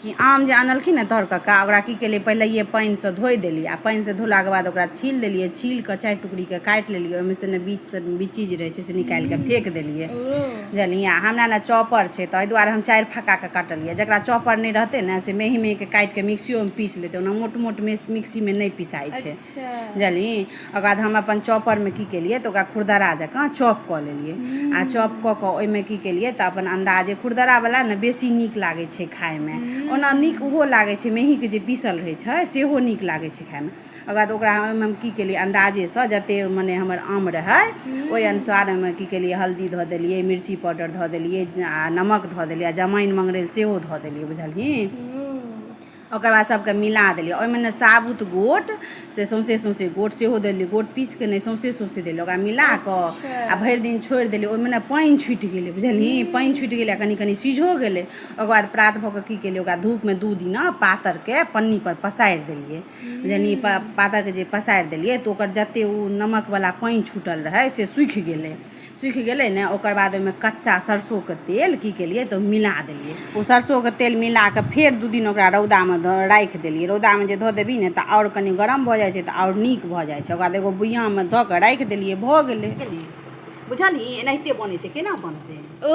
कि आम जे आनलखिन ने तर कक्का ओकरा की केलियै पहिलैये पानिसँ धोइ देलियै आ पानिसँ धोलाके बाद ओकरा छील देलियै छील कऽ चारि टुकड़ीके काटि लेलियै ओहिमे से ने बीचसँ बीची जे रहै छै से निकालि कऽ फेक देलियै बुझलियै आ हमरा ने चॉपर छै ताहि दुआरे हम चारि फक्काके काटलियै जकरा चॉपर नहि रहतै ने से मेही मेहीके काटि कऽ मिक्सियोमे पीस लेतै ओना मोट मोट मिक्सीमे नहि पिसाइ छै बुझलियै ओकर बाद हम अपन चॉपरमे की केलियै तऽ ओकरा खुरदरा जकाँ चॉप कऽ लेलियै आ चॉप कऽ कऽ ओहिमे की केलियै तऽ अपन अन्दाजे खुरदरावला ने बेसी नीक लागै छै खायमे ओना नीक ओहो लागै छै मेहीके जे पीसल रहै छै सेहो नीक लागै छै खायमे ओकर बाद ओकरा ओहिमे हम की केलियै अन्दाजेसँ जतेक मने हमर आम रहै ओहि अनुसार ओहिमे की केलियै हल्दी धऽ देलियै मिर्ची पाउडर धऽ देलियै आ नमक धऽ देलियै आ जमाइन मङ्गरैल सेहो धऽ देलियै बुझलही ओकर बाद सभके मिला देलियै ओहिमे ने साबुत गोट से सौंसे सौंसे गोट सेहो देलियै गोट पीस के नहि सौंसे सौंसे देलियै ओकरा मिला कऽ अच्छा। आ भरि दिन छोड़ि देलियै ओहिमे ने पानि छुटि गेलै बुझलियै हम्म। पानि छुटि गेलै आ कनि कनि सीझो गेलै ओकर बाद प्रात भऽ कऽ की केलियै ओकरा धूपमे दू दिना पातरके पन्नीपर पसारि देलियै बुझलियै पा- पातरके जे पसारि देलियै तऽ ओकर जतेक ओ नमकवला पानि छूटल रहै से सूखि गेलै सुखि गेलै ने ओकर बाद ओहिमे कच्चा सरसोके तेल की केलियै तऽ मिला देलियै ओ सरसोके तेल मिला कऽ फेर दू दिन ओकरा रौदामे राखि देलियै रौदामे जे धऽ देबही ने तऽ आओर कनि गरम भऽ जाइ छै तऽ आओर नीक भऽ जाइ छै ओकर बाद एगो बुइयाँमे धऽ कऽ राखि देलियै भऽ गेलै बुझलियै एनाहिते बनै छै केना बनतै ओ